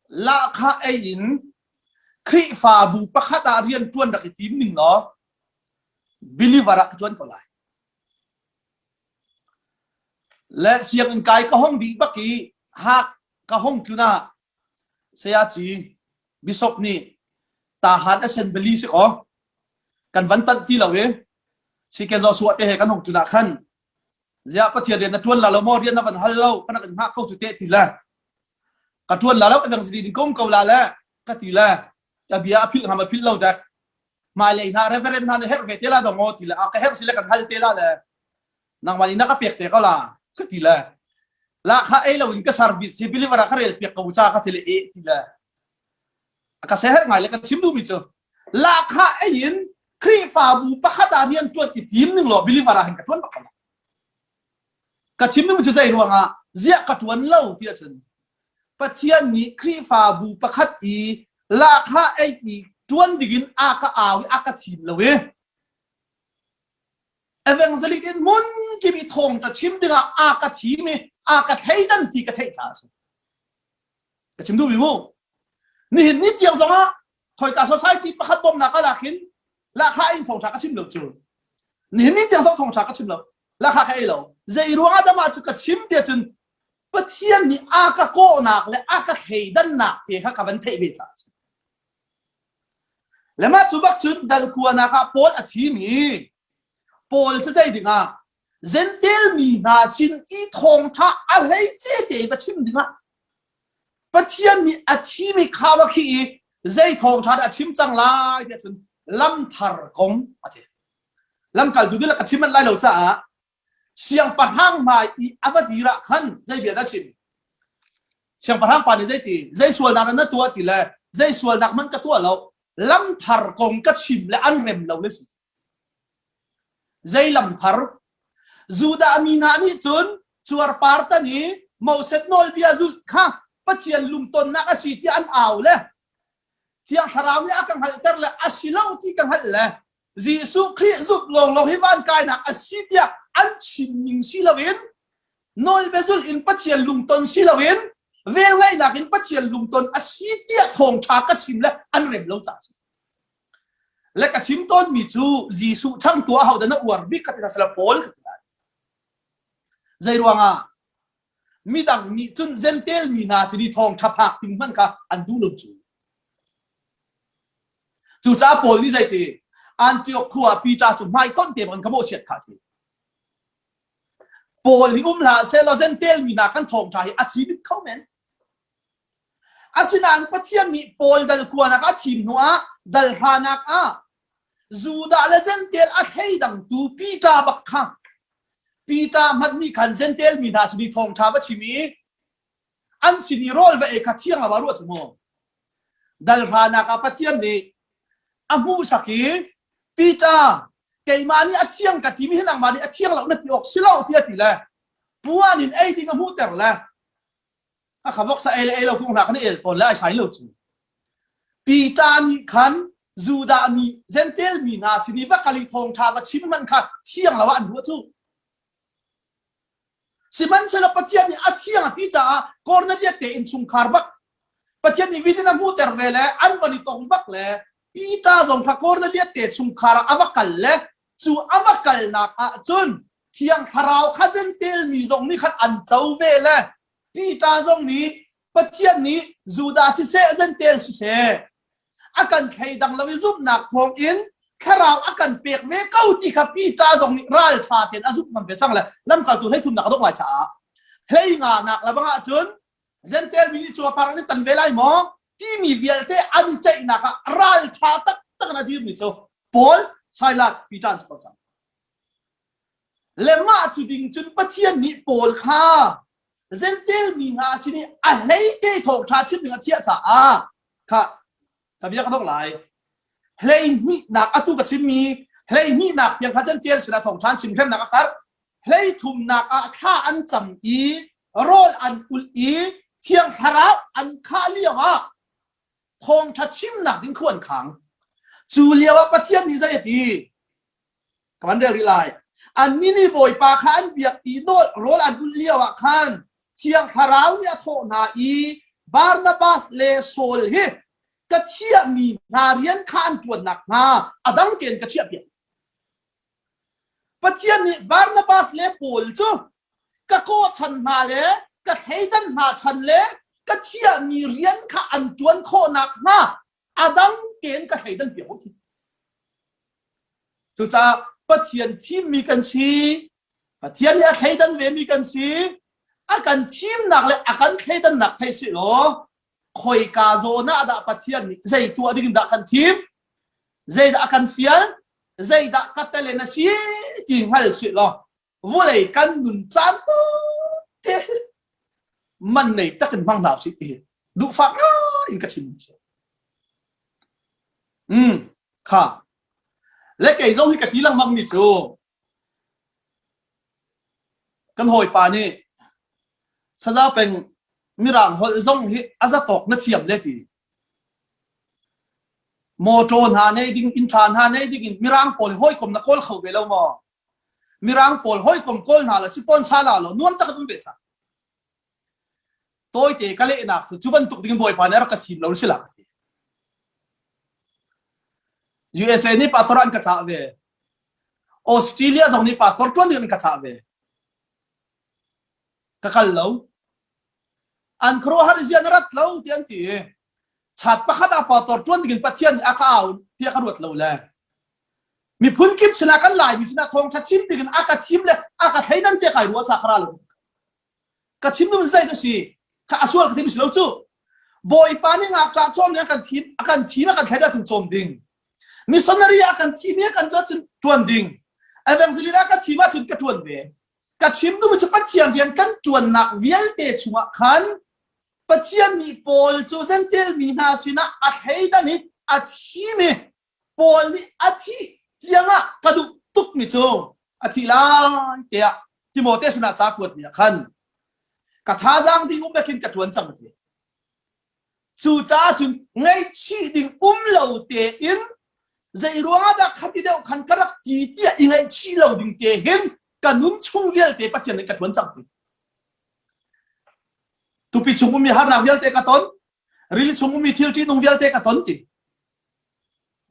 lahka ei in Khrihfabu pakhat ah rian ṭuan rak i tim ning law believer ah ka ṭuan ko lai Len sianginn kai ka hong dih bak i hak ka hong tlun ah sayaci bishop nih tahan a sen bali si kaw kan van tanh ti lo i siken Joshua te he kan hong tlun ah khan ziah pathian rian na tuan la lo maw rian na van hal lo kan rak in hngak kho cu te ti le ka tuan la lo evang siri ding kom ko la le ka ti le ka bia a phil ham a phil lo dek hmailei hna reverend hna nih herh ve te la dong ti le a ka herh si le kan hal te la le nangmah nih na ka pek te ko la ka ti le la kha ei lo in ka service hi believer a ka rel pek ko cha ka ti le e ti le ka se her ngai le ka chim du mi chu la kha ei in khrihfabu pakhat ah rian tuan i tim ning lo believer ah hin ka tuan ba ka chim mi chu zei ruang ah ziah ka tuan lo ti a chun Pathian nih Khrihfabu pakhat i lahkhah eihmi ṭuan dingin a ka au i a ka thim lo i evangelic in hmunkim i thawngṭa chim dingah a ka thim i a ka thleidan ti ka theih ṭha a si. Ka chim duh mi mu. Nihin ni tiang zongah khoika society pakhat bawmnak a lakin lahkhah in thawngṭha ka chim lo cu. Nihin ni tiang zong thawngṭha ka chim lo. Lahkhah ka ei lo. Zei ruangah dah mah cu ka chim tiah cun Pathian nih a ka kawhnak le a ka thleidannak te kha ka van theih ve caah a Le mah cu bak cun darkuanak ah Paul a thimi Paul cu zei dingah Gentel mi hna sin i thawngtha a hlei ce te va chim dingah Pathian nih a thimi kha va khi i zei thawngtha dah a chim cang lai ti cun lam thar kong a ti. Lamkaltu dilak a chim manh lai lo caah Siangpahrang hmai i a va dir ah khan zei bia dah chim? Siangpahrang pa nih zeiti? Zei sualnak dah na tuah ti le zei sualnak hmanh ka tuah lo. Lamthar kong ka chim le an rem lo na si. Zei lamthar? Judah mi hna nih cun cuarpar tan i Moses nawlbia zulh kha Pathian lumtonnak a si tiah an au le Thiang Thlarau nih a ka hngalhter le a si lo ti ka hngalh le Jesuh Khrih zumh lawnglawng hi van kainak a si tiah an chim ning si loin nawlbia in Pathian lungton si loin velngeihnak in Pathian lungton a si tiah thawngṭha ka chim le an rem lo caah le ka chim tawnmi cu Jesuh chang tuah hodan a uar bik ka ti na sala Paul ka ti lai. Zei ruangah? Midang nih cun Zentail mi hna sin i thawngṭha phak ding hmanh kha an duh lo cu. Cucaah Paul nih zeiti Antioch khua ah Peter cu hmaitonh te bangin ka mawhchiat kha a ti. Paul i um hlah sehlaw Zentail mi hna kan thawngṭha hi a thi bik kho men. Asinain Pathian nih Paul dal kuanak a thim hnuah dal hranak ah Judah le Zentail a thleidangtu Peter bak kha Peter hmanh nih khan Zentail mi hna sin i thawngṭha va chim i an sin i rawl va ei kha thiang lo ah ruah cu maw? Dalhranak ah Pathian nih a hmuhsak i Peter keimah nih a thiang ka timi hi nangmah nih a thiang lo na ti awk si lo tiah ti le puan in ei ding a hmuhter le a kha voksa ei le ei lo kung hna kan el tawn le ai sai lo cu Peter nih khan Judah mi Gentel mi hna sin i va kali thawng ṭha va chim man kha thiang lo ah an ruah cu sihmanhsehlaw Pathian nih a thiang a ti caah Cornelius te in chungkhar bak Pathian nih vision a hmuhter ve le an van i tong bak le Peter zong kha Cornelius te chungkhar ah a va kal le cu a va kalnak ah cun thiang thlarau kha Gentel mi zong nih khan an co ve le Peter zong nih Pathian nih Judah siseh Zentail siseh a kan thleidang lo i zumhnak thawng in thlarau a kan pek ve ko ti kha Peter zong nih ralṭha tein a zumh ngam ve cang le lamkaltu hleithumnak a dongh lai caah hlei nganak le bang ahcun Zentail mi nih cu a par an tan ve lai maw timi vialte an ceihnak ah ralṭha taktak in a dirmi cu Paul, Silas, Peter an si ko cang. Le mah cu ding cun Pathian nih Paul kha Zentail mi hna sin i a hleite thawngṭha chim ding a thiah caah kha ka bia ka dok lai. Hleihnihnak atu ka chimmi hleihnihnak tiang kha Zentail sinah thawngṭha chim hremnak a karh. Hlei thumnak ah thla an cam i rawl an kulh i thiang thlarau an khah lioah thawngṭha chimnak ding khu an khang. Cu lioah Pathian nih zei a ti? ka van rel rih lai annih nih bawipa kha an biak i rawl an ulh lio ah khan thiang thlarau nih a thawh hna i Barnabas le Saul hi ka thiahmi hna rian kha an ṭuan nakhnga a dang tein ka chiahpiak Pathian nih Barnabas le Paul cu ka kawhchan hna le ka thleidan hna chan le ka thiahmi rian kha an ṭuan khawh nakhnga a dang tein ka thleidan piak ko thin. Cucaah Pathian thimmi kan si, Pathian nih a thleidan vemi kan si, a kan thimnak le a kan thleidannak thei si law khoika zawn ah dah Pathian nih zei tuah ding dah kan thim, zeidah a kan fial, zeidah ka tele na si ti hngal si law vawlei kan nun caan tawtte man nei tak in hmang hna usih ti duh fak ngai in ka chim si mm kha le kei zong hi ka ti lengmang mi cu kan hawipa nih saza peng mirang holh zong hi azatawk na thiam le ti motor hna nei ding inn tha hna nei ding in mirang pawl hawikom na kawl kho ve lo maw Mirang pawl hawikom kawl hna la si pon sa la lo nuam tak an ve sa. Tawite ka lehnak cu cu bantuk ding bawipa nih rak ka thim lo si la ka ti. USA nih pator an ka chah ve. Australia zong nih pator tuan ding an ka chah ve. Ka kal lo. An khuaruahar zian rat lo ti an ti. Chat pakhat a pator tuan ding in pathian nih a ka aun tiah ka ruat lo le miphun kip sinah kan laimi sinah thawngtha chim dingin a ka thim le a ka thleidan te kai ruwa cha kara lo ka chim dum zai ka si ka asual ka tim si lo chu bawipa ni ngak ta chom ne kan thim akan thim akan thlaida tun chom ding missionary akan thim ye kan zo chun tuan ding evangelist akan thima chun ka tuan ve ka chim dum chu pathian rian kan tuan nak vialte chunga khan pathian mi paul chu zentel mi hna sinah a thleidan hi a thimi Paul nih a thih tiangah ka duh tukmi cu a thih lai tiah Timote sinah ca kuatmi ah khan ka thazaang ding um bekin ka ṭuan cang a ti. Cucaah cun ngaihchih ding um lo tein zei ruangah dah khati deuh khan ka rak ti tiah i ngaihchih lo ding te hin ka nun chung vialte Pathian nih ka ṭuan cang ti. Tupi chung ummi harnak vialte ka ton, ril chung ummi thil ṭihnung vialte ka ton ti.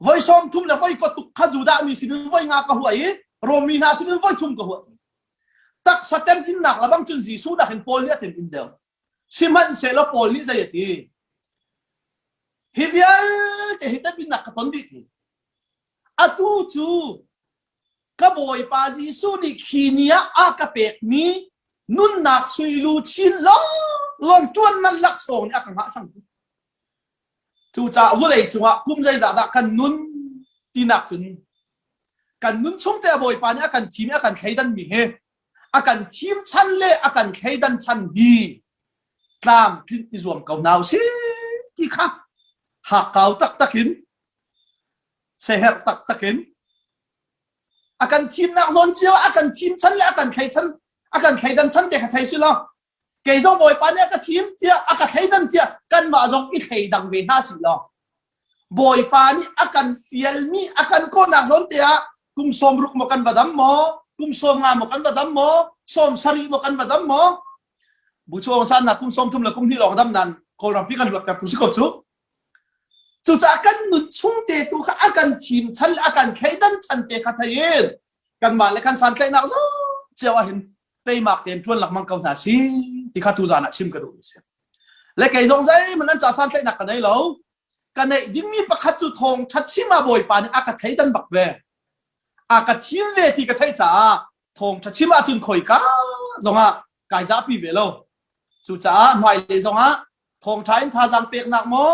Voi sawm thum le voi patuk kha Judah mi sinin voi nga ka huah i Rom mi hna sinin voi thum ka huah. Taksa temtinnak labang cun Jesuh nakin Paul nih a tin in deu. Sihmanhsehlaw Paul nih zei a ti? Hi vialte hi taminnak ka ton dih ti. Atu cu ka Bawipa Jesuh nih khi ni ah a ka pekmi nunnak sui lu chin lawng lawng tuan man laksawng nih a ka ngah cang. Cucaah vawlei cungah kum zeizah dah kan nun tinak cun kan nun chungte a Bawipa nih a kan thim i a kan thleidan mi hi a kan thim chan le a kan thleidan chan hi tlamtlinh i zuam ko hna usih ti kha hakkau taktak in seher taktak in a kan thimnak zawn cio a kan thim chan le a kan thlei chan a kan thleidan chan te kha thei si law kei zong Bawipa nih a ka thim tiah a ka thleidan tiah kanmah zong i thleidang ve hna sih law Bawipa nih a kan fialmi a kan kawhnak zawnte ah kum sawm ruk maw kan badam maw kum sawm nga maw kan badam maw sawm sarih maw kan badam maw bu chuang san na kum sawm thum le kum hnih lawng dam nan kawlrampi kan luat tertu si ko cu cucaah kan nun chung te tu kha a kan thim chan a kan thleidan chan te kha thein kanmah le kan santlaihnak zo cio a hin teimak tein ṭuan lengmang ko hna si ti kha tuzan ah chim ka duhmi si. Le kei zong zeihmanh an casan tlaihnak ka nei lo. Ka neih dingmi pakhat cu thawng ṭhat chima bawipa nih a ka theidan bak ve. A ka thil ve ti ka theih caah thawng ṭha chim ahcun khoi ka zongah kai zapi ve lo. Cucaah hmailei zongah thawng ṭha in thazaang peknak maw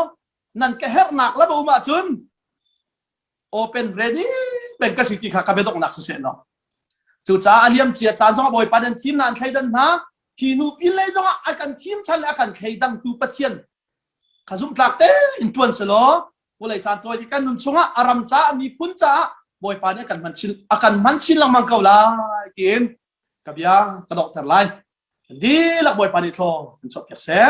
nan ka herhnak la um ahcun open ready men ka si ti kha ka biadoknak si seh law cucaah a liam cia caan zongah bawipa nan thim na an thleidan hna hi nu pin lei zongah a kan thim chan le a kan thleidang tu pathian ka zumtlak te in tuan se law pulei caan tuai kan nun chungah a ram caah miphun caah bawipa nih kan man chin a kan man chin lengmang ko lai tiin ka bia ka dokter lai di lak bawipa nih thlaw an chop piak seh